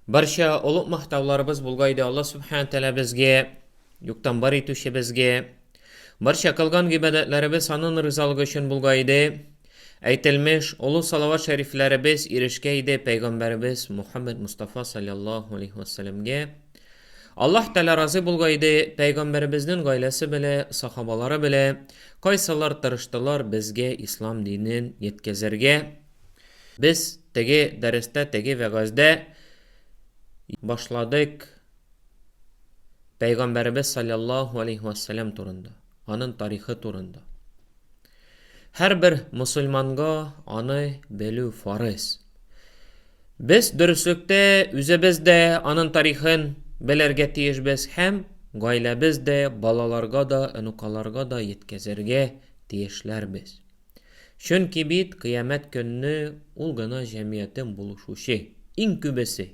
Барча олуг мактауларыбыз булга иде Алла Субхаһу Тәгалә безгә, юктан бар итүче безгә. Барча кылган гыйбадәтләребез аның ризалыгы өчен булга иде. Әйтелмеш олы салават шәрифләребез ирешкә иде пәйгамбәребез Мухаммед Мустафа саллаллаһу алейхи вассаламга. Аллаһ Тәгалә разый булга иде пәйгамбәребезнең гаиләсе белә, сахабалары белә, кайсылар тырыштылар безгә ислам динен җиткезергә. Без теге дәрестә, теге вәгазьдә башладык Пәйгамбәребез саллаллаху алейхи вассалам турында, аның тарихы турында. Һәрбер мусульманга аны белү фарыз. Без дөреслектә үзебез дә аның тарихын белергә тиешбез һәм гаиләбез дә, балаларга да, онукаларга да җиткезергә тиешләрбез. Чөнки бит кыямәт көнне ул гына җәмиятем булышучы, иң күбесе.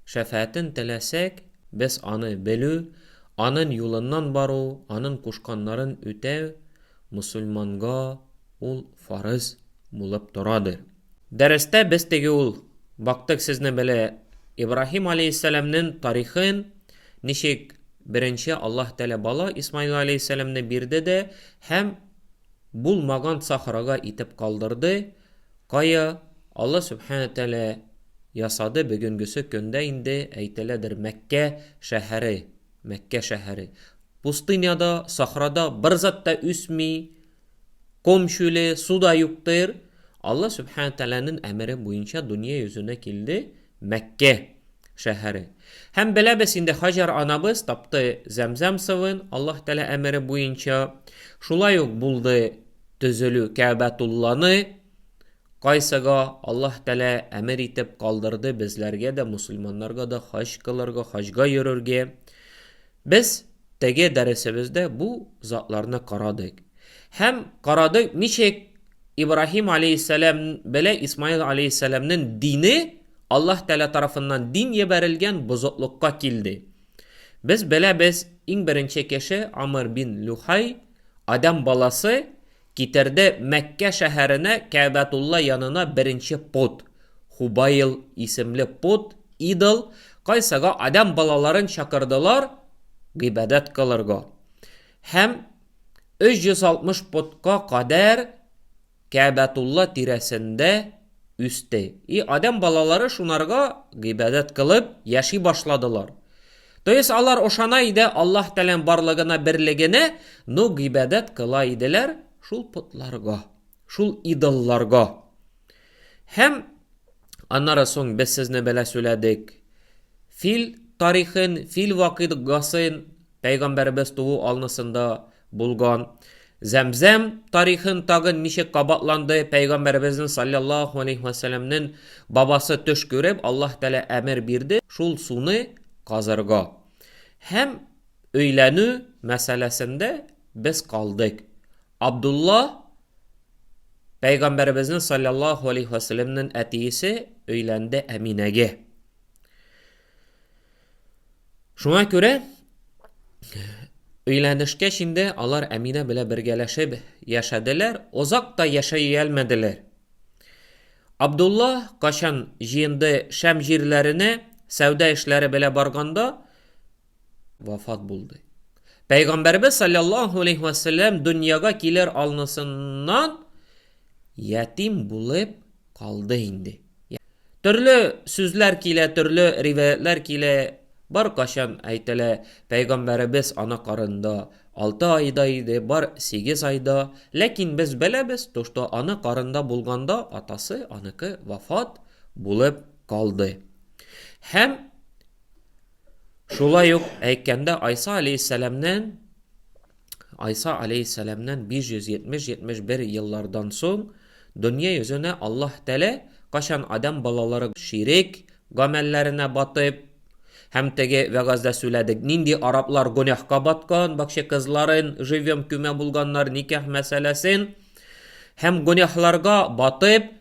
Шәфәәтен теләсәк, без аны белү, анын юлыннан бару, анын кушканнарын үтәү мөселманга ул фарыз булып торадыр. Дәрестә без теге ул бактык сезне беле Ибраһим алейһиссәламнен тарихын, ничек беренче Аллаһ Тәгалә бала Исмаил алейһиссәламне бирде дә һәм булмаган сахрага итеп калдырды, кая Аллаһ Сүбхәнә Тәгалә ясады бөгенгесе көндә инде әйтеләдер Мәккә шәһәре, Мәккә шәһәре. Пустыняда, сахрада бер зат та үсми, Комчуле, суда юктыр. Алла Сүбхәнә Тәгаләнең әмере буенча дөнья йөзенә килде Мәккә шәһәре. Һәм беләбез инде, Хаҗар анабыз тапты Зәмзәм сывын Аллаһ Тәгалә әмере буенча. Шулай ук булды төзелү Кәәбәтулланы, кайсыга Аллаһ Тәгалә әмер итеп калдырды безләргә дә, мөселманнарга да хаҗ кылырга, хаҗга йөрергә. Без теге дәресебездә бу затларны карадык. Һәм карадык, ничек Ибраһим алейһиссәлам белән Исмаил алейһиссәламнең дине Аллаһ Тәгалә тарафыннан дин ебәрелгән бозыклыкка килде. Без беләбез, иң беренче кеше Амр бин Люхай, Адәм баласы, Китерде Мәккә шәһәренә Кәәбәтулла янына беренче пот. Хубаил исемле пот, идол, кайсыга адәм балаларын чакырдылар гыйбадәт кылырга. Һәм 360 потка кадәр Кәәбәтулла тирәсендә үсте. И адәм балалары шунарга гыйбадәт кылып яши башладылар. То есть алар ошана иде Аллаһ Тәлән барлыгына берлегенә, ну гыйбадәт кыла иделәр шул потларга, шул идолларга. Һәм аннары соң без сезне белә сөйләдек. Фил тарихын, фил вакыйгасын пәйгамбәребез туу алнысында булган. Зәмзәм тарихын тагын ничек кабатланды, пәйгамбәребезнең салләллаһу алейһи вә сәлләмнен бабасы төш күреп, Аллаһ Тәгалә әмер бирде шул суны казырга. Һәм өйләнү мәсьәләсендә без калдык. Абдулла пәйгамбәребезнең салләллаһу алейһи вә сәлләмнен әтиесе өйләнде Әминәгә. Шуңа күрә өйләнешкәч инде алар Әминә белән бергәләшеп яшәделәр, озак та яшәй әлмәделәр. Абдулла качан җыенды Шәм җирләренә сәүдә эшләре белән барганда вафат булды. Пәйгамбәрбез саллаллаһу алейһи ва саллям дөньяга килер алнысыннан ятим булып калды инде. Төрле сүзләр килә, төрле риваятьләр килә, бар качан әйтелә, пәйгамбәребез ана карында алты айда иде, бар сигез айда, ләкин без беләбез, то что ана карында булганда атасы аныкы вафат булып калды. Һәм шулай ук әйткәндә Айса алейһиссәламнән Айса алейһиссәламнән 570-71 еллардан соң дөнья йөзенә Аллаһ Тәгалә кайчан адәм балалары ширек гамәлләренә батып, һәм теге вәгазьдә сүләдек, нинди араблар гөнәһка баткан, бакча кызларын живьем көймә булганнар, никах мәсьәләсен, һәм гөнәһларга батып,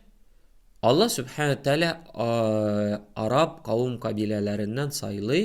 Аллаһ Сүбхәнәһү Тәгалә араб кавым-кабиләләреннән сайлый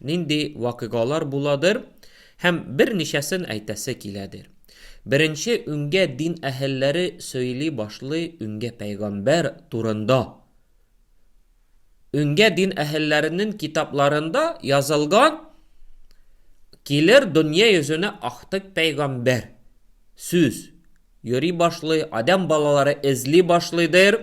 нинди вакыйгалар буладыр һәм берничәсен әйтәсе киләдер. Беренче үңгә дин әһелләре сөйли башлый үңгә пәйгамбәр турында. Үңгә дин әһелләренен китапларында язылган килер дөнья йөзенә актык пәйгамбәр сүз йөри башлый, адәм балалары эзли башлыйдыр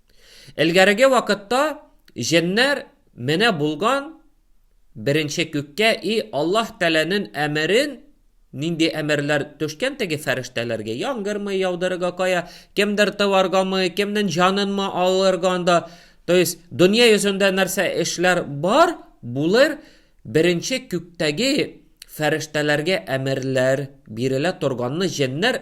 Элгәреге вакытта җеннәр менә булган беренче күккә и Аллаһ Тәләнен әмерен нинди әмерләр төшкән теге фәрештәләргә яңгырмы яудырырга кая кемдер тываргамы кемнен җанынмы алырга анда то есть дөнья йөзендә нәрсә эшләр бар булыр беренче күктәге фәрештәләргә әмерләр бирелә торганны җеннәр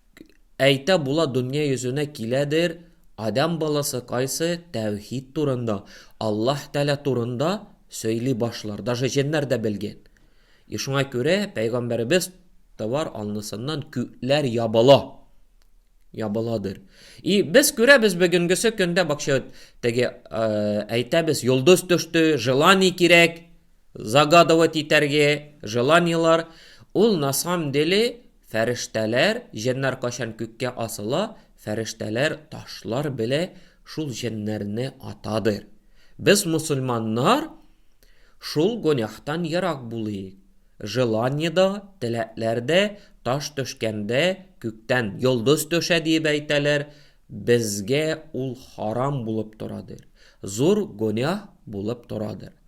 Әйтә була дөнья йөзенә киләдер адәм баласы кайсы тәүхид турында, Аллаһ Тәгалә турында сөйли башлар, даже җеннәр дә белгән. И шуңа күрә пәйгамбәребез товар алнысыннан күкләр ябыла, ябыладыр. И без күрәбез бүгенгесе көндә бакча теге әйтәбез, йолдыз төште, желание кирәк, загадывать итәргә, желаниелар, ул на самом деле Фәрештәләр, җеннар кайчан күккә асыла, фәрештәләр ташлар белә шул җеннәрне атадыр. Без мусульманнар шул гонәхтан ерак булыйк. Желание да, теләкләр дә таш төшкәндә күктән йолдыз төшә диеп әйтәләр, безгә ул харам булып торадыр, зур гонәх булып торадыр.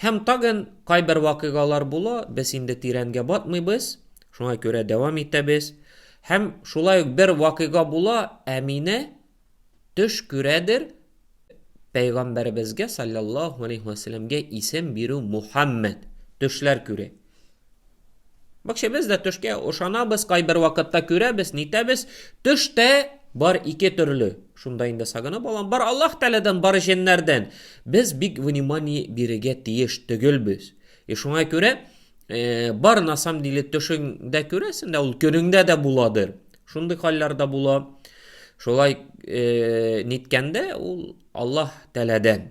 Һәм тагын кайбер вакыйгалар була, без инде тирәнгә батмыйбыз, шуңа күрә дәвам итәбез. Һәм шулай ук бер вакыйга була, Әминә төш күрәдер, пәйгамбәребезгә салләллаһу галәйһи вә сәлләмгә исем бирү Мухәммәд төшләр күрә. Бак ше без дә төшкә ошанабыз, кайбер вакытта күрәбез, нитәбез. Төш тә бар ике төрле. Шунда инде сагынып алам. Бар Аллаһ Тәгаләдән, бар җеннәрдән. Без бик внимание бирергә тиеш түгелбез. И шуңа күрә э, бар на самом деле төшеңдә күрәсең дә, ул көнеңдә дә буладыр. Шундый хәлләр дә була. Шулай э, ниткәндә ул Аллаһ Тәгаләдән.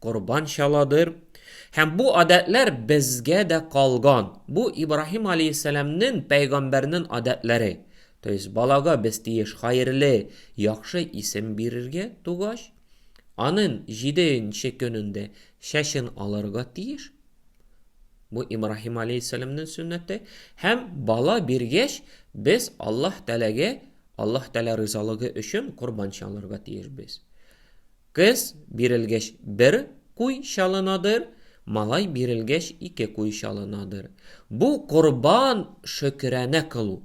корбан чаладыр. Һәм бу адәтләр безгә дә калган. Бу Ибраһим алейһиссәламнен, пәйгамбәрнен адәтләре. То есть балага без тиеш хаерле, яхшы исем бирергә тугач, анын җиденче көнендә чәчен алырга тиеш. Бу Ибраһим алейһиссәламнен сөннәте. Һәм бала биргәч, без Аллаһ Тәгаләгә, Аллаһ Тәгалә ризалыгы өчен корбан чалырга тиешбез. Кыз бирелгәч бер куй чалынадыр, малай бирелгәч ике куй чалынадыр. Бу корбан шөкерәнә кылу.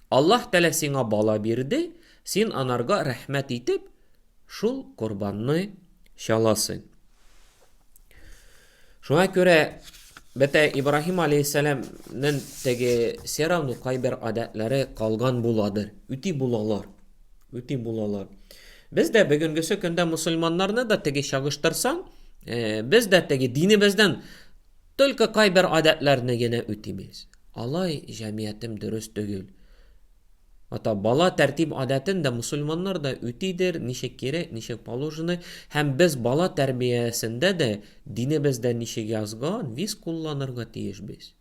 Аллаһ Тәгалә сиңа бала бирде, син анарга рәхмәт итеп шул корбанны чаласың. Шуңа күрә бәтә Ибраһим алейхиссәламнең теге сәрамның кайбер гадәтләре калган буладыр. Үти булалар. Үти булалар. Без дә бүгенгесе көндә мусульманнарны да теге чагыштырсаң, э, без дә теге динебездән только кайбер гадәтләрне генә үтимиз. Алай җәмгыятем дөрес түгел. Ата, бала тәртип-адәтен дә мусульманнар да үтидер, ничек кирәк, ничек положено, һәм без бала тәрбиясендә дә динебездә ничек язган, виз кулланырга тиеш без.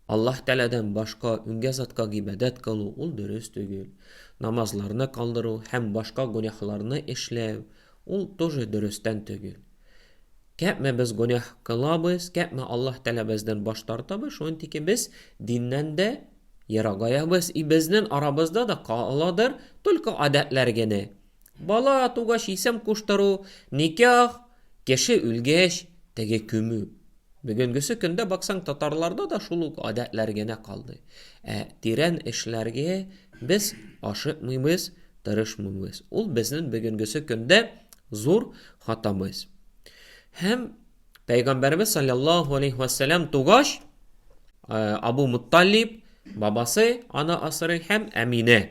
Аллаһ Тәгаләдән башка үнгә затка гыйбадәт кылу, ул дөрес түгел. Намазларны калдыру һәм башка гөнаһларны эшләү, ул тоже дөрестән түгел. Кәпме без гөнаһ кылабыз, кәпме Аллаһ Тәгалә бездән баш тартабыз, шунтике без диннән дә Ерагая-быз и безнен арабызда да ка-ладыр только адәтләр генә. Бала тугач исем куштыру, никях, кеше үлгәч, теге күмү. Бө-генгесе көндә баксаң татарларда да шул ук адәтләр генә калды. Ә тирән эшләргә без ашыкмыйбыз, тырышмыйбыз. Ул безнен бөгенгесе көндә зур хатамыз. Һәм Пәйгамбәребез саллаллаху алейхи вәссәлам тугач, э, Абу Мутталиб бабасы аны асырый һәм Әминә.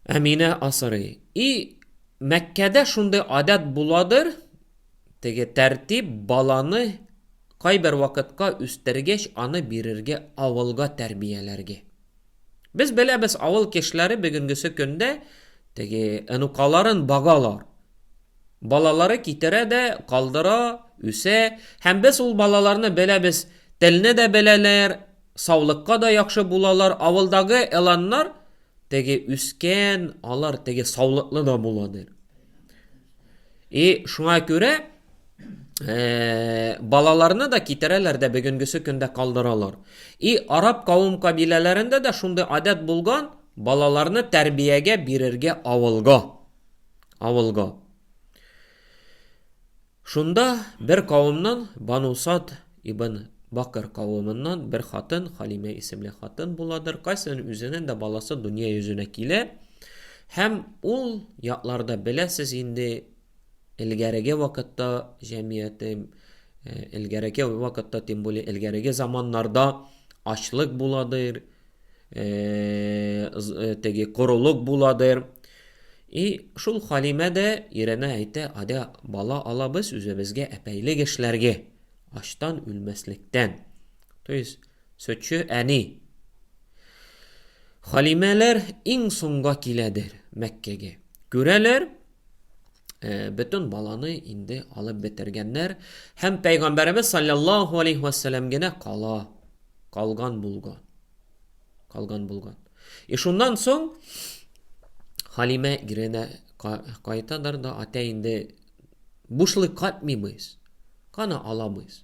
Әминә асырый. И Мәккәдә шундый адәт буладыр, теге тәртип баланы кайбер вакытка үстергәч аны бирергә авылга тәрбияләргә. Без беләбез, авыл кешеләре бүгенгесе көндә теге энукаларын багалар. Балалары китерә дә, калдыра, үсә. Һәм без ул балаларны беләбез, телне дә беләләр, саулыкка да яхшы булалар. Авылдагы эланнар теге үскән, алар теге саулыклы да була дир. И шуңа күрә балаларны да китерәләр дә бүгенгесе көндә калдыралар. И араб кавым кабиләләрендә дә шундый адәт булган, балаларны тәрбиягә бирергә авылга. авылга. Шунда бер кавымнан Банусад ибн Бакыр кавымыннан бер хатын, Халимә исемле хатын буладыр, кайсының үзенең дә баласы дөнья йөзенә килә һәм ул якларда беләсез инде элгәреге вакытта җәмгыяте элгәреге вакытта тем более элгәреге заманнарда ачлык буладыр э, э, теге корылык буладыр. И шул Халимә дә иренә әйтә, адә бала алабыз үзебезгә әпәйлек эшләргә, аштан үлмәслектән. То есть, сөтче әни. Халимәләр иң соңга киләдер Мәккәгә. Күрәләр, э, бөтен баланы инде алып бетергәннәр һәм пәйгамбәребез саллаллаху алейхи вассалам генә кала калган булган калган булган и шуннан соң халимә иренә кайтадыр да ата инде бушлык катмыйбыз кана аламыз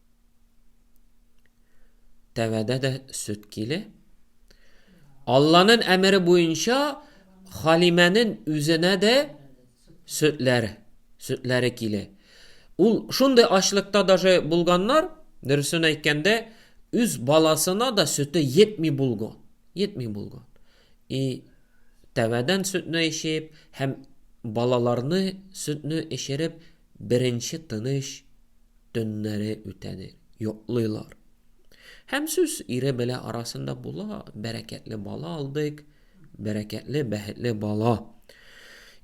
Тәвәдә дә сөт киле. Алланын әмере буенча Халимәнен үзенә дә сөтләр, сөтләре киле. Ул шундый ачлыкта даже булганнар, дөресен әйткәндә, үз баласына да сөте йетми булган. Йетми булган. И тәвәдән сөтне эчеп һәм балаларны сөтне эчереп беренче тыныч төннәре үтәдер, йоклыйлар. Һәм сүз ире белә арасында була, бәрәкәтле бала алдык, бәрәкәтле, бәхетле бала.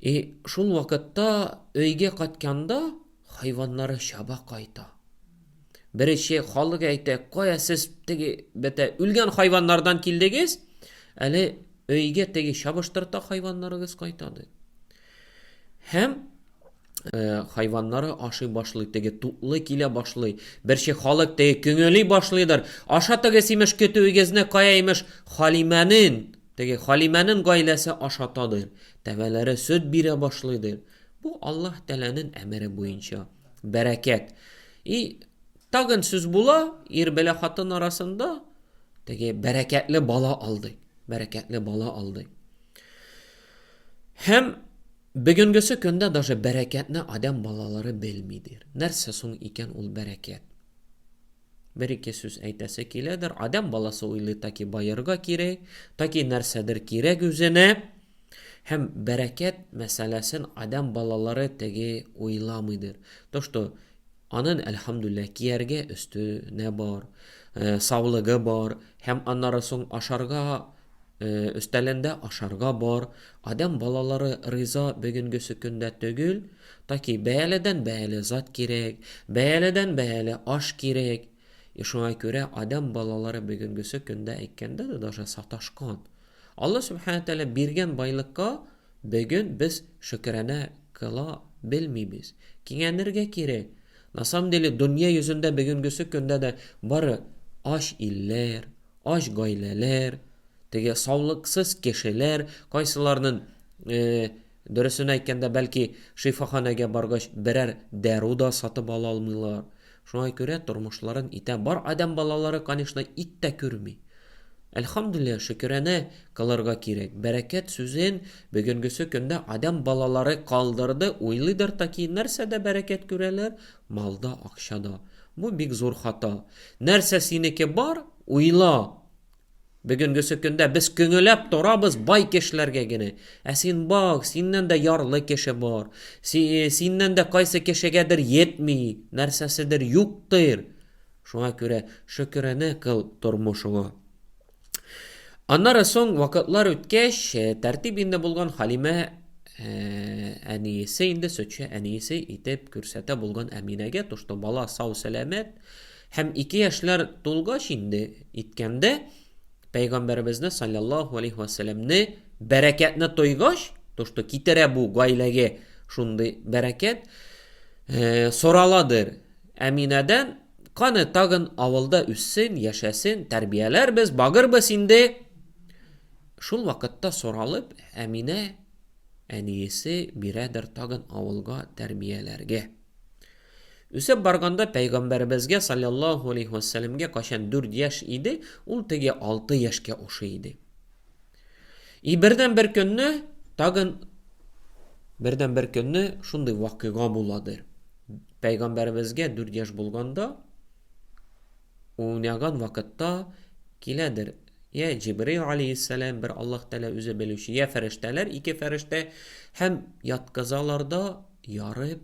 И шул вакытта өйгә катканда хайваннары чаба кайта. Беренче халык әйтә, кая сез теге бетә үлгән хайваннардан килдегез? Әле өйгә теге чабыштырта хайваннарыгыз кайтады. Һәм Э, хайваннары ашый башлый, теге тутлы килә башлый. Берче халык теге күңели башлыйдыр. Аша теге симеш көтүегезне кая имеш Халимәнен, теге Халимәнен гаиләсе ашатадыр. Тәбәләре сөт бирә башлыйдыр. Бу Аллаһ Тәләнен әмере буенча. Бәрәкәт. И тагын сүз була, ир белә хатын арасында теге бәрәкәтле бала алды. Бәрәкәтле бала алды. Һәм Бөгенгесе көндә даже бәрәкәтне адәм балалары белми дир. Нәрсә соң икән ул бәрәкәт? Бер-ике сүз әйтәсе киләдер. Адәм баласы уйлый таки баерга кирәк, таки нәрсәдер кирәк үзенә. Һәм бәрәкәт мәсьәләсен адәм балалары теге уйламыйдыр. То, что Анын, әлхәмдүлләһ, кияргә өсте нә бар, саулыгы бар, һәм аннары соң ашарга өстәлендә ашарга бар, адәм балалары риза Бөгенгесе көндә төгел, таки бәяледән бәяле зат кирәк, бәяледән бәяле аш кирәк, и шуңа күрә адәм балалары бөгенгесе көндә әйткәндә дә даже саташкан. Алла Сүбхәнә Тәгалә биргән байлыкка Бөген без шөкерәнә кыла белмибез. Кинәнергә кирәк. На самом деле дөнья йөзендә бөгенгесе көндә дә бары ач илләр, ач гаиләләр, теге саулыксыз кешеләр, кайсыларнын, дөресен әйткәндә, бәлки, шифаханәгә баргач берәр дару да сатып ала алмыйлар. Шуңа күрә тормышларын итә бар адәм балалары конечно ит тә күрми. Әлхамдуллиһ шөкерәнә кылырга кирәк. Бәрәкәт сүзен бөгенгесе көндә адәм балалары калдырды, уйлыйдыр таки нәрсәдә бәрәкәт күрәләр, малда акчада. Бу бик зур хата. Нәрсә синеке бар, уйла! Бүгенгесе көндә без көңеләп торабыз бай кешеләргә генә. Ә син бак, синнән дә ярлы кеше бар. Синнән дә кайсы кешегәдер йетми, нәрсәседер юктыр. Шуңа күрә шөкерәнә кыл тормышыңа. Аннары соң вакытлар үткәч, э, тәртип инде булган Халимә э, әниесе инде сөтче әниесе итеп күрсәтә булган Әминәгә тошты. Бала сау-сәламәт. Һәм ике яшьләр тулгач инде иткәндә пәйгамбәребезне саллаллаху алейхи вәсәләмне бәрәкәтне тойгач, то что китерә бу гаиләгә шундый бәрәкәт, э, сораладыр Әминәдән, каны тагын авылда үссен, яшәсен, тәрбияләрбез, багырбыз инде. Шул вакытта соралып, Әминә әниесе бирәдер тагын авылга тәрбияләргә. Үсеп барганда пәйгамбәребезгә салләллаһу алейһи вә сәләмгә кайчан 4 яшь иде, ул теге 6 яшькә ошый иде. И бердән бер көнне тагын бердән бер көнне шундый вакыйга буладыр. Пәйгамбәребезгә 4 яшь булганда уйнаган вакытта киләдер я Җибрил алейһиссәлам бер Аллаһ Тәгалә үзе белүче, я фәрештәләр ике фәрештә һәм яткызалар да ярып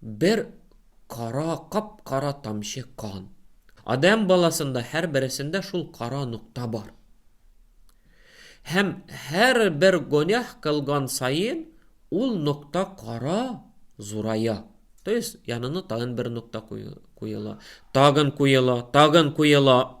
Бер кара, кап-кара тамчы кан. Адәм баласында һәрбересендә шул кара нокта бар. Һәм һәрбер гонях кылган саен ул нокта кара зурая. То есть янына тагын бер нокта куела, тагын куела, тагын куела.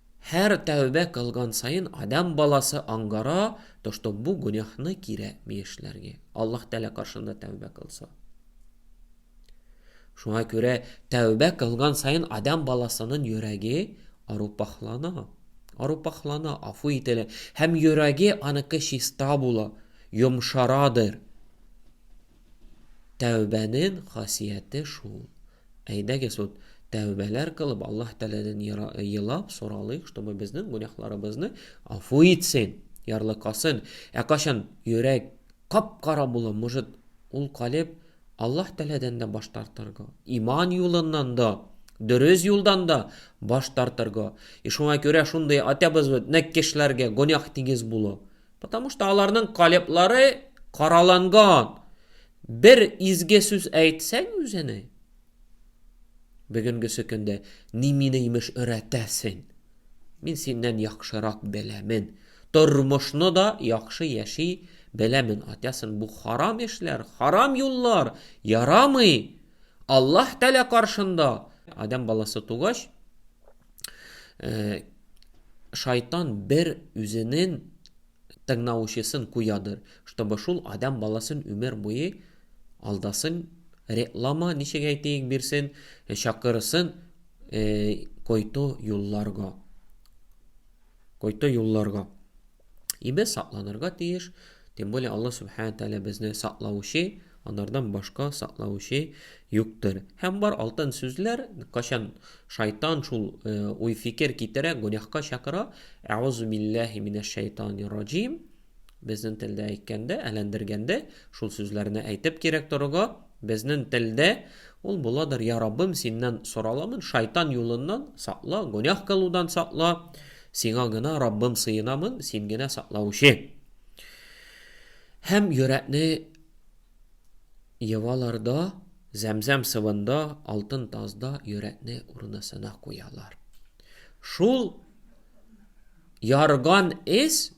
Һәр тәүбә кылган саен адәм баласы аңгара, то что бу гөнәһне кирәкми эшләргә, Аллаһ Тәгалә каршында тәүбә кылса. Шуңа күрә тәүбә кылган саен адәм баласының йөрәге арупахлана, арупахлана, афу ителә һәм йөрәге аныкы чиста була, йомшарадыр. Тәүбәнен хасияте шул. Әйдәгез вот тәүбәләр кылып Аллаһ Тәгаләдән елап соралыйк, чтобы безнең гүнәхларыбызны афу итсен, ярлыкасын. Ә качан йөрәк кап-кара була, может, ул калеб Аллаһ Тәгаләдән дә баш тартырга, иман юлыннан да, дөрес юлдан да баш тартырга. И шуңа күрә шундый атәбез вот нәккешләргә гүнәх тигез була. Потому что аларның калеблары караланган. Бер изге сүз әйтсәң үзенә, бүгенгесе көндә ни мине имеш өйрәтәсең. Мин синнән яхшырак беләмен. Тормышны да яхшы яши беләмен. Атясын бу харам эшләр, харам юллар, ярамый. Аллаһ Тәлә каршында адам баласы тугач, Э, шайтан бер үзенен тыңнаучысын куядыр, чтобы шул адам баласын өмер буе алдасын, реклама ничек әйтик бирсен, э, чакырсын э, който юлларга. Кайта юлларга. И без сакланырга тиеш, тем более Аллаһ Субхана Тәгалә безне саклаучы, анардан башка саклаучы юктыр. Һәм бар алтын сүзләр, качан шайтан шул э, уй-фикер китерә, гүнәһка чакыра, әгъузу билләһи минәш шайтанир раҗим, Безнен телдә әйткәндә, әләндергәндә, шул сүзләрне әйтеп кирәк торырга, безнен телдә ул буладыр, Я Раббым, Синнән сораламын, шайтан юлыннан сакла, гөнаһ кылудан сакла, Сиңа гына, Раббым, сыенамын, Син генә саклаучы. Һәм йөрәкне евалар да, зәмзәм сывында, алтын тазда йөрәкне урынысына куялар. Шул ярган эз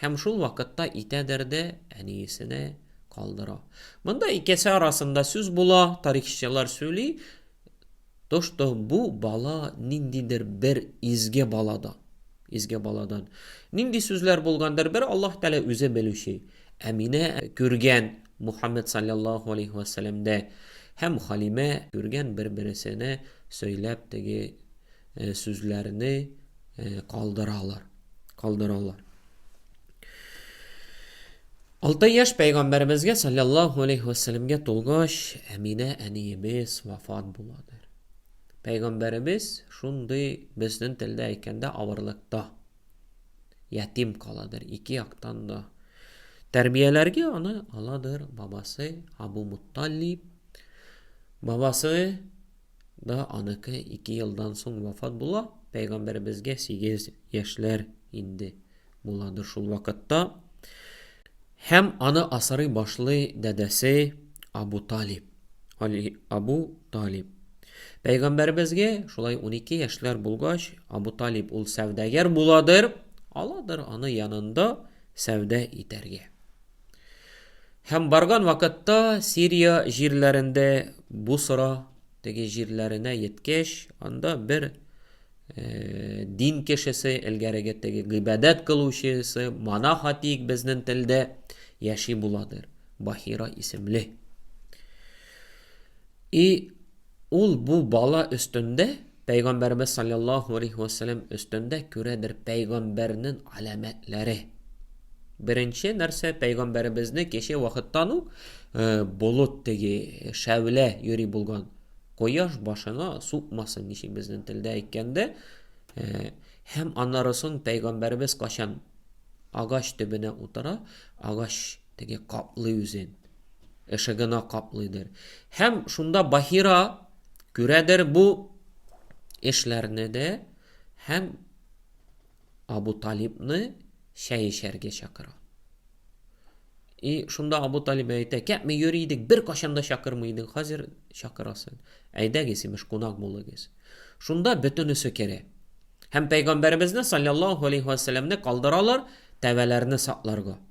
Һәм шул вакытта итәдер дә әниесенә калдыра. Монда икесе арасында сүз була, тарихчылар сөйли, то что бу бала ниндидер бер изге балада, изге баладан. Нинди сүзләр булгандыр бер Аллаһ Тәгалә үзе белүче. Әминә күргән Мухаммед саллаллаху алейхи вәсәләмдә һәм Халимә күргән бер-бересенә сөйләп теге э, сүзләрне э, калдыралар. Калдыралар. Алты яшь пәйгамбәребезгә саллаллаху алейхи вәсәләмгә тулгач, Әминә әниебез вафат буладыр. Пәйгамбәребез шундый безнең телдә әйткәндә авырлыкта ятим каладыр ике яктан да. Тәрбияләргә аны аладыр бабасы Абу Мутталиб. Бабасы да аныкы ике елдан соң вафат була, пәйгамбәребезгә сигез яшьләр инде буладыр шул вакытта. Һәм аны асырый башлый дәдәсе Абу Талиб. Али Абу Талиб. Пәйгамбәребезгә шулай 12 яшьләр булгач, Абу Талиб ул сәүдәгәр буладыр, аладыр аны янында сәүдә итәргә. Һәм барган вакытта Сирия җирләрендә Бусра теге җирләренә еткәч, анда бер э, дин кешесе, элгәреге теге гыйбадәт кылучысы, монах атик безнең телдә яши буладыр. Бахира исемле. И Ул бу бала өстендә, Пәйгамбәребез салләллаһу алейһи вә сәлләм өстендә күрәдер пәйгамбәрнен аләмәтләре. Беренче нәрсә, пәйгамбәребезне кече вакыттан ук болыт теге, шәүлә йөри булган. Кояш башына сукмасын, ничек безнең телдә әйткәндә, һәм аннары соң пәйгамбәребез качан агач төбенә утыра, агач Теге каплый үзен. Эше гына каплыйдыр. Һәм шунда Бахира күрәдер бу эшләрне дә һәм Абу Талибны чәй эчәргә чакыра. И шунда Абу Талиб әйтә, кәпме йөри идек, бер кашан да чакырмый идең, хәзер чакырасың. Әйдәгез, имеш, кунак булыгыз. Шунда бөтенесе керә. Һәм пәйгамбәребезне саллаллаһу алейхи ва саллямны калдыралар тәвәләрне сакларга.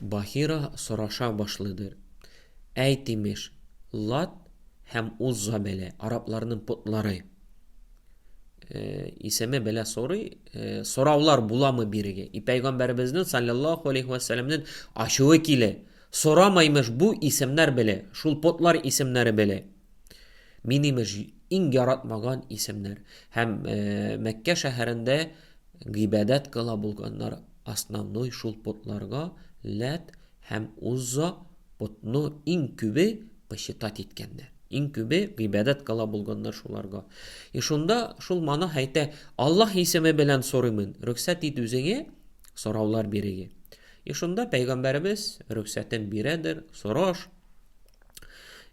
Бахира сораша башлыйдыр. Әйт, имеш, Лат һәм Узза бәлә, арапларның потлары. Э, исеме бәлә сорый, э, сораулар буламы бирегә? И пәйгамбәребезнең саллаллаху алейхи ва саллямның ачуы килә. Сорама, имеш, бу исемнәр бәлә, шул потлар исемнәре бәлә. Мин, имеш, иң яратмаган исемнәр. Һәм э, Мәккә шәһәрендә гыйбадәт кыла булганнар Основной шул потларга Ләт һәм Узза потны иң күбе почитать иткәннәр. Иң күбе гыйбадәт кыла булганнар шуларга. И шунда шул монах әйтә, Аллаһ исеме белән сорыймын, рөхсәт ит үзеңә сораулар бирергә. И шунда пәйгамбәребез рөхсәтен бирәдер, сораш.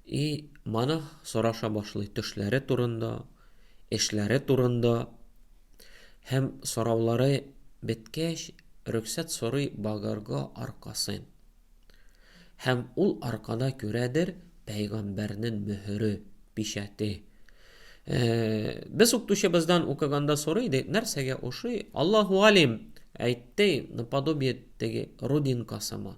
И монах сораша башлый төшләре турында, эшләре турында һәм сораулары беткәч, рөхсәт сорый багарга аркасын. Һәм ул аркада күрәдер пәйгамбәрнен мөһере, печәте. Без укытучыбыздан укыганда сорый идек, нәрсәгә ошый? Аллаһу алим, әйтте, наподобие теге родинкасыма.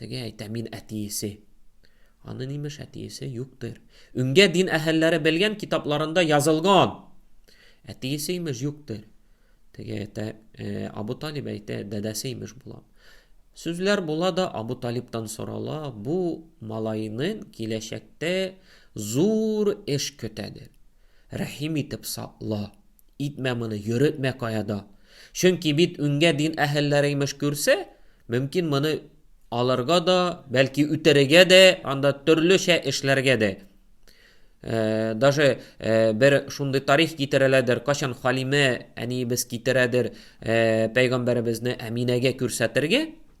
Теге әйтә, мин әтиесе. Аны нимеш әтиесе юктыр. Үңгә дин әһәлләре белгән китапларында язылган. Әтиесе имеш юктыр. Теге әйтә, э, Абу Талиб әйтә, дәдәсе имеш була. Сүзләр була да Абу Талибтан сорала, бу малайның киләчәктә зур эш көтәдер. Рәхим итеп сакла. Итмә моны, йөретмә каяда. Чөнки бит үңгә дин әһелләре имеш күрсә, мөмкин моны алырга да, бәлки үтерергә дә, анда төрлечә эшләргә дә. Даже бер шундый тарих китерәләдер, качан Халимә әниебез китерәдер пәйгамбәребезне Әминәгә күрсәтергә,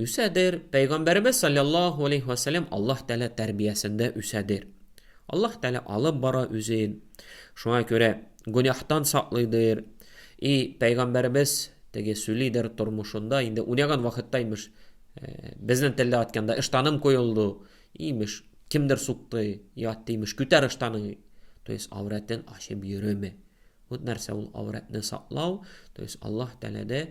Үсәдер. Пәйгамбәребез салләллаһу алейһи вә сәлләм Аллаһ Тәгалә тәрбиясендә үсәдер. Аллаһ Тәгалә алып бара үзен. Шуңа күрә гөнаһтан саклыйдыр. И пәйгамбәребез теге сүлидер тормышында инде уйнаган вакытта имеш, безнең телдә атканда ыштаным коелды, имеш, кемдер сукты, ятты, имеш, күтәр ыштаның. То есть аврәтен ачып йөрөме. Вот нәрсә ул аврәтне саклау, то есть Аллаһ Тәгаләдә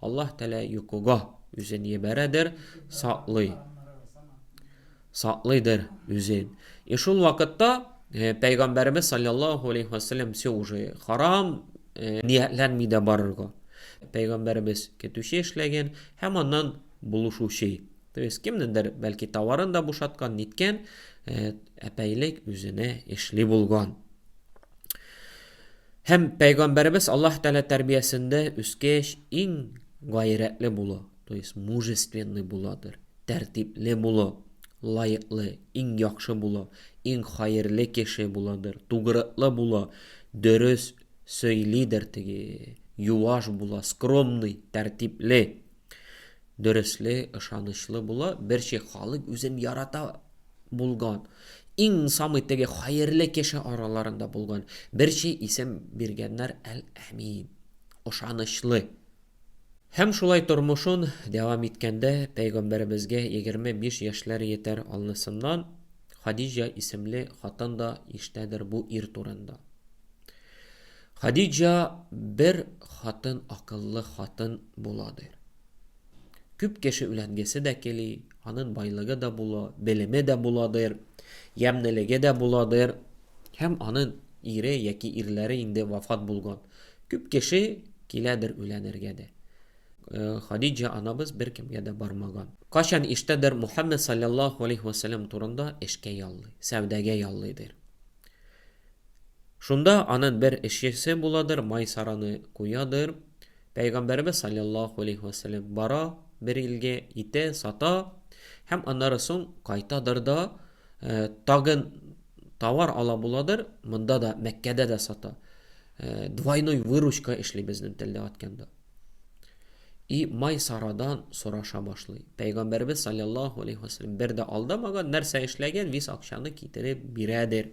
Аллаһ Тәлә йокыга үзен ебәрәдер, саклый. Саклыйдыр үзен. И шул вакытта э, Пәйгамбәребез саллаллаху алейхи вассалам все уже харам э, ниятләнми дә барырга. Пәйгамбәребез көтүче эшләгән һәм аннан булышучы. То есть кемнендер бәлки товарын да бушаткан, ниткән, э, әпәйлек үзенә эшли булган. Һәм Пәйгамбәребез Аллаһ Тәгалә тәрбиясендә үскәч, иң гайрәтле булу, то есть мужественный буладыр, тәртипле булу, лаеклы, иң яхшы булу, иң хәерле кеше буладыр, тугрыклы булу, дөрес сөйлидер теге, юаш була, скромный, тәртипле, дөресле, ышанычлы була, берче халык үзен ярата, булган, иң самый теге хәерле кеше араларында булган бер чи исем биргәннәр Әл-Әмин, ышанычлы. Һәм шулай тормышын дәвам иткәндә, пәйгамбәребезгә егерме биш яшьләр йетәр алнысыннан Хадиҗа исемле хатын да ишетәдер бу ир турында. Хадиҗа бер хатын акыллы хатын буладыр. Күп кеше өйләнгесе дә кели, анын байлыгы да була, белеме дә буладыр, ямнелеге дә буладыр. Һәм анын ире яки ирләре инде вафат булган. Күп кеше киләдер өйләнергә дә. Хадиҗа анабыз беркемгә дә бармаган. Кайчан иштәдер Мухаммәд салләллаһу алейһи ва сәлләм турында эшкә яллый, сәүдәгә яллыйдыр. Шунда анын бер эшчесе буладыр, Майсараны куядыр. Пәйгамбәребез салләллаһу алейһи вә сәлләм бара бер илгә, итә, сата һәм аннары соң кайтадыр да, тагын товар ала буладыр, монда да, Мәккәдә дә сата. Двойной выручка эшли безнең телдә атканда. И май сарадан сораша башлый. Пәйгамбәребез саллаллаһу алейхи вәсәлләм бер дә алдамаган, нәрсә эшләгән, вис акчаны китереп бирәдер.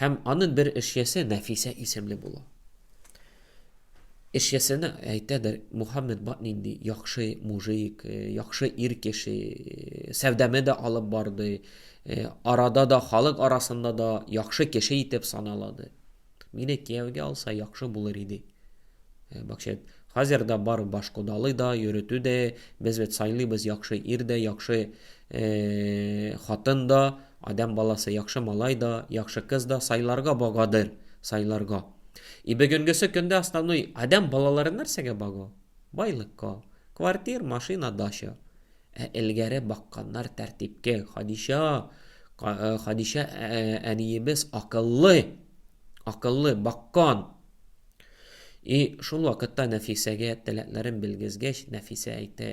Һәм аны бер эшчесе Нәфисә исемле була. Эшчесенә әйтәдер, Мухаммед бат нинди яхшы мужик, э, яхшы ир кеше, э, сәүдәме дә алып барды, э, арада да, халык арасында да яхшы кеше итеп саналады. Мине кияүгә алса яхшы булыр иде. Бакчет, хәзер дә бар баш кодалы да, йөрүтү дә, без бит сайлыйбыз яхшы ир дә, яхшы хатын да, Адәм баласы яхшы малай да, яхшы кыз да сайларга багадыр, сайларга. И бөгенгесе көндә основной адәм балалары нәрсәгә бага? Байлыкка. Квартир, машина, дача. Ә элгәре бакканнар тәртипкә. Хадича, Хадича әниебез акыллы, акыллы, баккан. И шул вакытта Нәфисәгә теләкләрен белгезгәч, Нәфисә әйтә,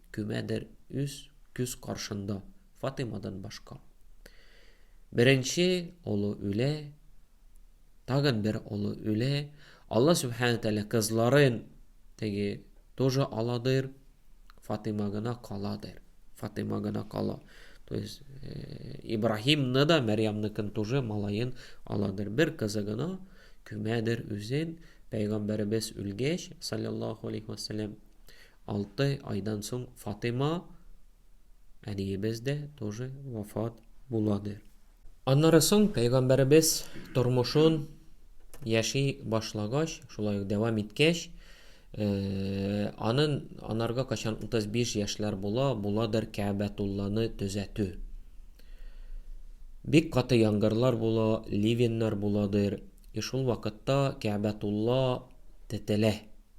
Кемәдер үз күз каршында Фатыймадан башка. Беренче олы үлә, тагын бер олы үлә. Алла Субхану Тәлә кызларын теге тоже аладыр, Фатыйма гына каладыр. Фатыйма гына кала. То есть э, Ибраһимны да, Мәрьямныкын тоже малаен аладыр. Бер кызы гына күмәдер үзен, пәйгамбәребез үлгәч, саллаллаху алейхи вассалам, Алты айдан соң Фатыйма әниебез дә тоже вафат буладыр. Аннары соң пәйгамбәребез тормышын яши башлагач, шулай ук дәвам иткәч, анын анарга качан 35 яшьләр була, буладыр Кәәбәтулланы төзәтү. Бик каты янгырлар була, ливеннар буладыр, и шул вакытта Кәәбәтулла тетелә.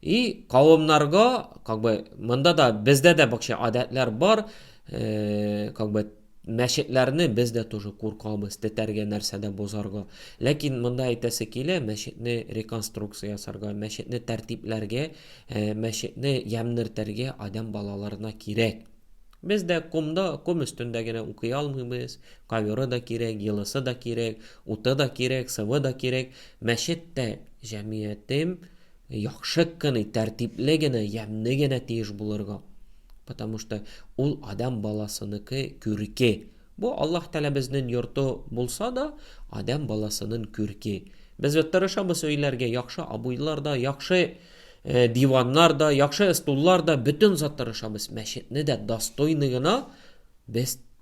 И кавымнарга, как бы, монда да, бездә дә бакча адәтләр бар, э, как бы, мәчетләрне без дә тоже куркабыз, тетәргә нәрсә дә бозарга. Ләкин монда әйтәсе килә, мәчетне реконструкция ясарга, мәчетне тәртипләргә, э, мәчетне ямнертәргә адәм балаларына кирәк. Без дә комда, ком өстендә генә укый алмыйбыз, ковёры да кирәк, елысы да кирәк, Уты да кирәк, сывы да кирәк. Мәчет тә, җәмгыятем яхшы кыны, тәртипле генә, ямьне генә тиеш булырга. Потому что ул адәм баласыныкы күрке. Бу Аллаһ Тәгалә безнен йорты булса да, адәм баласынын күрке. Без бит тырышабыз өйләргә яхшы обойлар да, яхшы диваннар да, яхшы стуллар да, бөтен зат тырышабыз. Мәчетне дә достойный гына без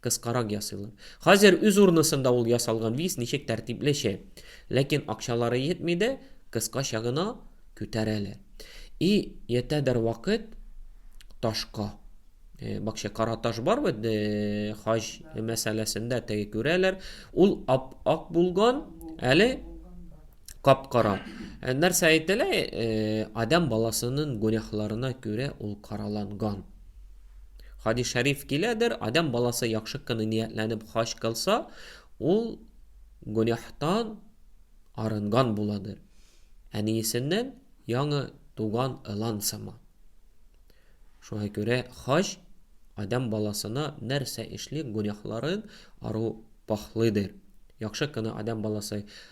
Кыскарак ясыйлар. Хәзер үз урнысында ул ясалган виз ничек тәртиплечә. Ләкин акчалары йетми дә, кыскача гына күтәрәләр. И йетә дер вакыт ташка. Бакча кара таш бар бит, хаҗ мәсьәләсендә теге күрәләр. Ул ап-ак булган, әле Кап-кара. Э, нәрсә әйтелә? Э, Адәм баласының гүнәһларына күрә ул караланган. Хадис шәриф киләдер, Адәм баласы яхшы кыны ниятләнеп хаҗ кылса, ул гүнәһтан арынган буладыр. Әниесеннән яңы туган ылан сыман. Шуңа күрә хаҗ Адәм баласына нәрсә эшли гүнәһларын ару пахлыдыр. Яхшы кына Адәм баласы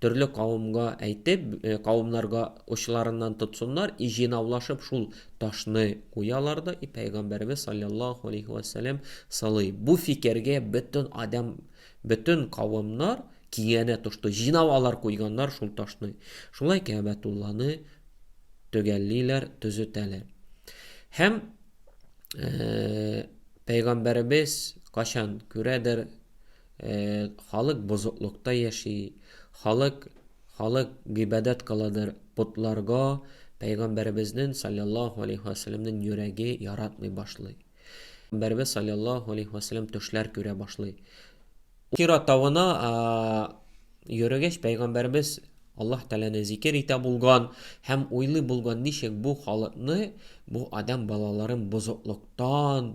Төрле кавымга әйтеп, кавымнарга очларыннан тотсыннар, и җыйнаулашып шул ташны куялар да, и пәйгамбәребез саллаллаһу алейхи вә сәлләм сылый. Бу фикергә бөтен адәм, бөтен кавымнар киңәнә тошты. Җыйнап алар куйганнар шул ташны. Шулай Кәбәтулланы төгәллиләр, төзетәләр. Һәм пәйгамбәребез качан күрәдер, Халык бозыклыкта яши, халык халык гыйбадәт кыладыр потларга, пәйгамбәребезнен салләллаһу алейһи вә сәлләмнен йөрәге яратмый башлый. Пәйгамбәребез салләллаһу алейһи вә сәлләм төшләр күрә башлый. Ул Хира тавына йөрегәч, пәйгамбәребез Аллаһ Тәгаләне зикер итә булган һәм уйлый булган, ничек бу халыкны, бу адәм балаларын бозыклыктан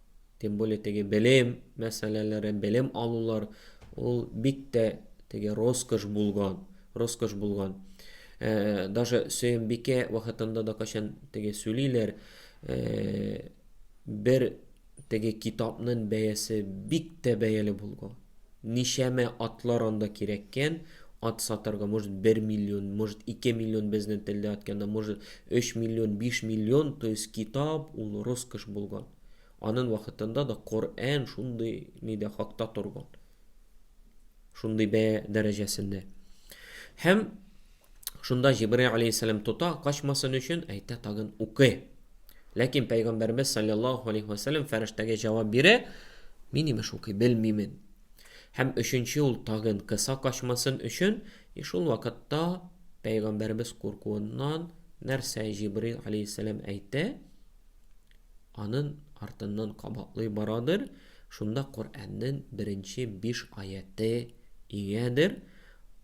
Тем более теге белем мәсьәләләре, белем алулар ул бик тә теге роскош булган, роскош булган. Э, даже Сөембикә вакытында да качан теге сүлиләр, э, бер теге китапның бәясе бик тә бәяле булган. Ничәмә атлар анда кирәккән, ат сатарга, может, бер миллион, может, ике миллион безнен телдә атканда, может, өч миллион, биш миллион, то есть китап ул роскошь булган. Анын вакытында да Коръән шундый нидә хакта торган. Шундый бәя дәрәҗәсендә. Һәм Шунда Җибрай алейһиссәлам тота, качмасын өчен әйтә тагын укый. Ләкин пәйгамбәрбез саллаллаһу алейһи ва саллям фәрештәгә җавап бирә, мин имеш укый белмимен. Һәм өченче ул тагын кыса качмасын өчен, и шул вакытта пәйгамбәрбез куркуыннан нәрсә Җибрай алейһиссәлам әйтә? Анын артыннан кабатлый барадыр, шунда Коръәннән беренче биш аяты иңәдер.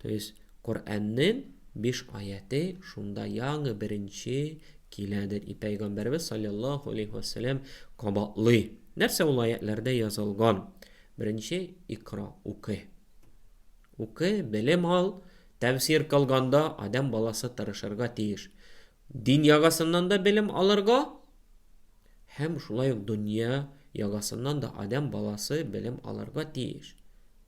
То есть Коръәннең биш аяте шунда яңы беренче киләдер. И пәйгамбәрбез саллаллаху алейхи вәсәләм кабатлый. Нәрсә ул аятләрдә язылган? Беренче икра укы. Укы, белем ал, тәфсир кылганда адам баласы тырышырга тиеш. Дин ягасыннан да белем алырга һәм шулай ук дөнья ягасыннан да адам баласы белем алырга тиеш.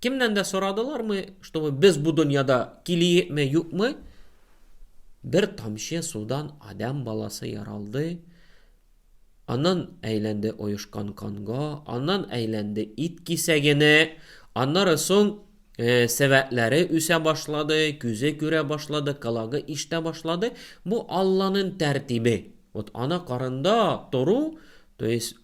Кемнән дә сорадылармы, чтобы без бу дөньяда килиекме, юкмы? Бер тамчы судан адам баласы яралды, аннан әйләнде оешкан канга, аннан әйләнде ит кисәгенә, аннары соң э, сәвәтләре үсә башлады, күзе күрә башлады, калагы иштә башлады. Бу Алланың тәртибе. Вот ана карында тору, то есть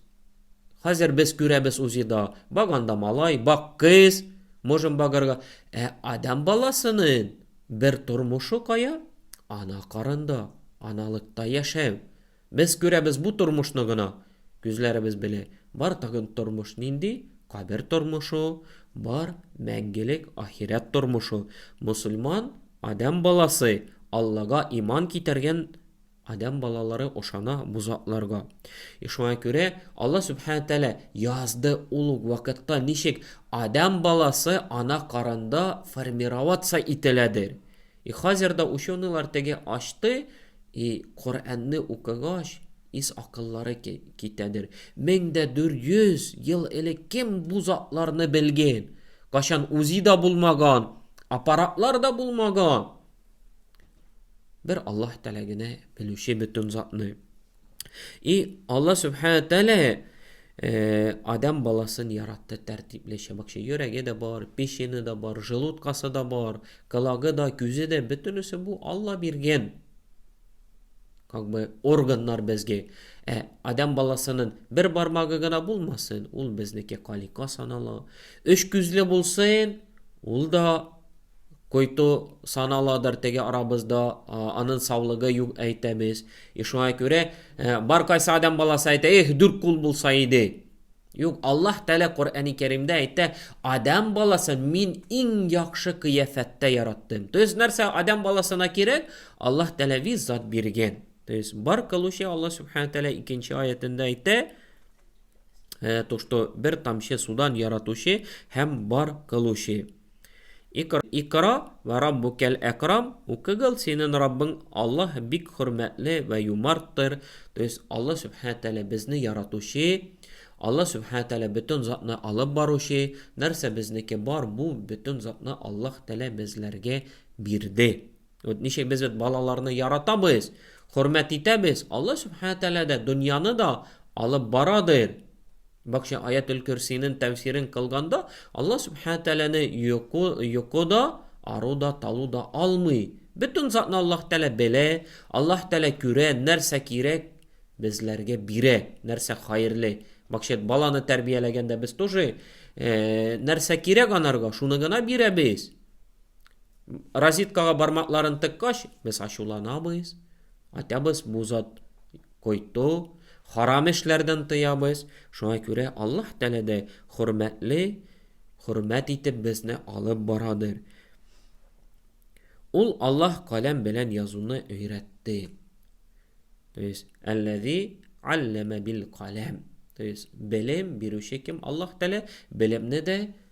Хәзер без күрәбез УЗИда, бак анда малай, бак кыз, можем багарга. Ә адам баласының бер тормышы кая? Ана карында, аналыкта яшәү. Без күрәбез бу тормышны гына, күзләребез белән. Бар тагын тормыш нинди? Кабер тормышы, бар мәңгелек ахирәт тормышы. Мөселман, адам баласы, Аллага иман китергән Адәм балалары ошана бу затларга. И шуңа күрә Алла Сүбхәнә Тәгалә язды ул ук вакытта ничек адәм баласы ана карында формироваться ителәдер. И хәзер дә ученыйлар теге ачты, и Коръәнне укыгач, ис акыллары китәдер. Мең дә дүрт йөз ел элек кем бу затларны белген? Кайчан УЗИ да булмаган, аппаратлар да булмаган. Бер Аллаһ Тәгалә генә белүче бөтен затны. И Аллаһ Субхана Тәгалә э, адам баласын яратты тәртиплечә. Бакча йөрәге дә бар, печене дә бар, желудкасы да бар, калагы да, күзе дә бөтенесе бу Алла биргән. Как бы органнар безгә. Ә адам баласының бер бармагы гына булмасын, ул безнеке калика санала. Өч күзле булсын, ул да Койту саналадыр теге арабызда, анын саулыгы юк әйтәбез. И шуңа күрә бар кайсы адам баласы әйтә, эх, дүрт кул булса иде. Юк, Аллаһ Тәлә Коръәни Кәримдә әйтә, адам баласы мин иң яхшы кыяфәттә яраттым. То есть нәрсә адам баласына кирәк? Аллаһ Тәлә виз зат биргән. То есть бар кылучы Аллаһ Субхану Тәлә икенче аятында әйтә, то что бер тамчы судан яратучы һәм бар кылучы. Икра вә раббукәл әкрам, укыгыл, синен Раббың Аллаһ бик хөрмәтле вә юмарттыр, то есть Аллаһ Сүбхәнә Тәгалә безне яратучы, Аллаһ Сүбхәнә Тәгалә бөтен затны алып баручы, нәрсә безнеке бар, бу бөтен затны Аллаһ Тәгалә безләргә бирде. Вот ничек без вот балаларны яратабыз, хөрмәт итәбез, Алла Субхана Тәгалә дә дөньяны да алып барадыр. Бакча аят ул курсинен тәфсирен кылганда, Алла Субхана Тәгаләне йоку, йоку да, ару да, талу да алмый. Бөтен затны Аллаһ Тәгалә белә, Аллаһ Тәгалә күрә, нәрсә кирәк, безләргә бирә, нәрсә хәерле. Бакча баланы тәрбияләгәндә без тоже э, нәрсә кирәк анарга, шуны гына бирәбез. Розеткага бармакларын тыккач, без ачуланабыз, атабыз бу зат койту, харам эшләрдән тыябыз, шуңа күрә Аллаһ Тәгалә дә хөрмәтле, хөрмәт итеп безне алып барадыр. Ул Аллаһ каләм белән язуны өйрәтте. То есть, әлләзи алләмә бил каләм. То есть, белем бирүче кем Аллаһ Тәгалә, белемне дә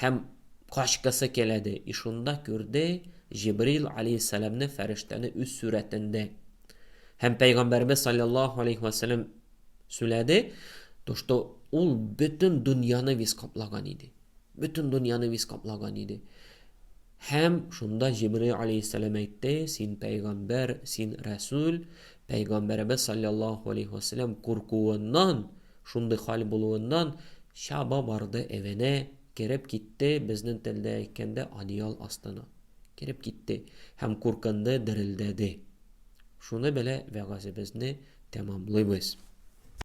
Һәм качкысы килә, ди. И шунда күрде Җибрил аләйһиссәламне фәрештәне үз сурәтендә. Һәм Пәйгамбәребез салләллаһу аләйһи вә сәлләм сөйләде, то что ул бөтен дөньяны виз каплаган иде. Бөтен дөньяны виз каплаган иде. Һәм шунда Җибрил аләйһиссәлам әйтте, Син пәйгамбәр, син рәсүл, пәйгамбәребез салләллаһу аләйһи вә сәлләм куркуыннан, шундый хәл булуыннан, чаба барды эвенә, кереп китте, безнен телдә әйткәндә, одеял астына. Кереп китте һәм куркынды, дерелдәде. Шуны белә вәгазебезне тәмамлыйбыз.